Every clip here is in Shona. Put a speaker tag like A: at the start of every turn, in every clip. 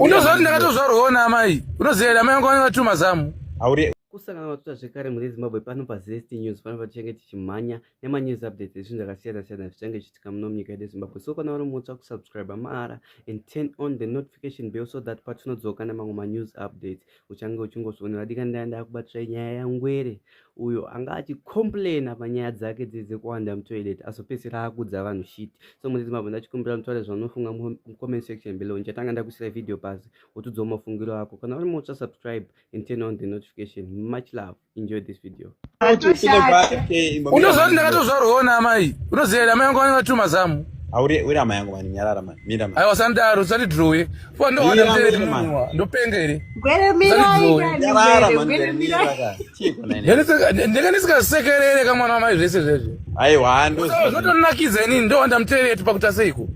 A: unoziva kuti ndakatozvarwawo naamai unoziva here amai vangu vanenge vatiri mazamu kusangana vatuta zvekare mune zimbabwe pano pazest news pano patichange tichimhanya nemanews updates ezvinhu zvakasiyana siyana zvichange zvichitika muno munyika yedu yezimbabwe so kana vari mutsva kusubscribe mahara and turn on the notification bell so that patinodzoka nemamwe manews updates uchange uchingozvionera dika ndaya ndakubatisai nyaya yangwere uyo anga achicomplaina panyaya dzake dzii dzekuwanda mutoilet azopedzisira akudza vanhu shit so muridzi mabva ndachikumbira mutaure zvaunofunga mucomment section below ndichatanga ndakuisira video pasi wotiudzawo mafungiro ako kana uri mutsva subscribe and turn on the notification much love enjoy this video unoziva kuti ndakatozvarwawo naamai unoziva here amai yangu vanenge vatiri mazamu uri amai yangu mani nyarara mani mira mani aiwa sandaro usati drowe fuwa ndohanda mtere munwa ndopenga here ndenge ndisikasekerere kamwana wamai zvese zvezve aiwa ndotonakidza inini ndohanda mtere yetu pakuta seiko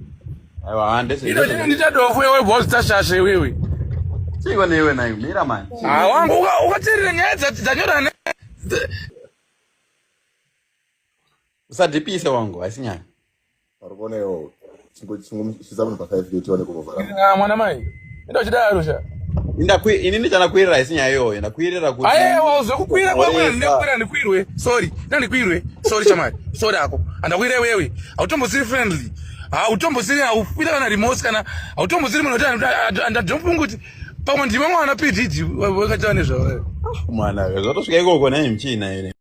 A: nditadofo iwe bozita shasha iwewe chiko newe nayo mira mani ah, wangu ukaterera nyaya dzanyorana usadhipise wangu haisi nyaya uri kuona iwo chingomushisa munhu pafive kuti one kumovara mwana mai Enda uchidaro sha. Inda kwi ini ndichana kuirira isi nyaya iyoyo ndakuirira kuti. Aye wauze kukuira kwa mwana ndikuira ndikuirwe. Sorry. Ina ndikuirwe. Sorry chamai. Sorry ako. Andakuira wewe. Autombosiri friendly. Autombosiri aufira kana remorse kana autombosiri munhu kuti andadompungu kuti pamwe ndimwe mwana pididi wakataura nezvawo. Ah, mwana zvatosvika ikoko nai mchina ere.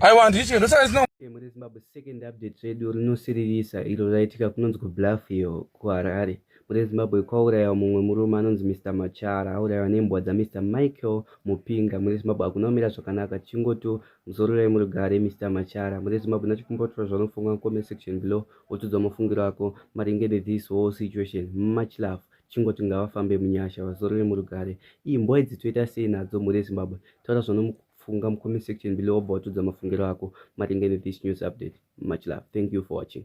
A: aiwa handiti chikendo saka zino mune zimbabwe second update redu rinosiririsa iro raitika kunonzi kubluff iyo kuharare mune zimbabwe kwaurayiwa mumwe murume anonzi mr machara aurayiwa nembwa dzamr michael mupinga mune zimbabwe hakuna kumira zvakanaka chingoto muzororai murugare mr machara mune zimbabwe nachikumbotora zvanofunga comment section below wotudzwa mafungiro ako maringe nethis whole situation much love chingoti ngavafambe munyasha vazorore murugare iyi mbwa idzi toita sei nadzo mhuri yezimbabwe taura zvanofunga mucomment section below wobva watudza mafungiro ako maringe nethis news update much love thank you for watching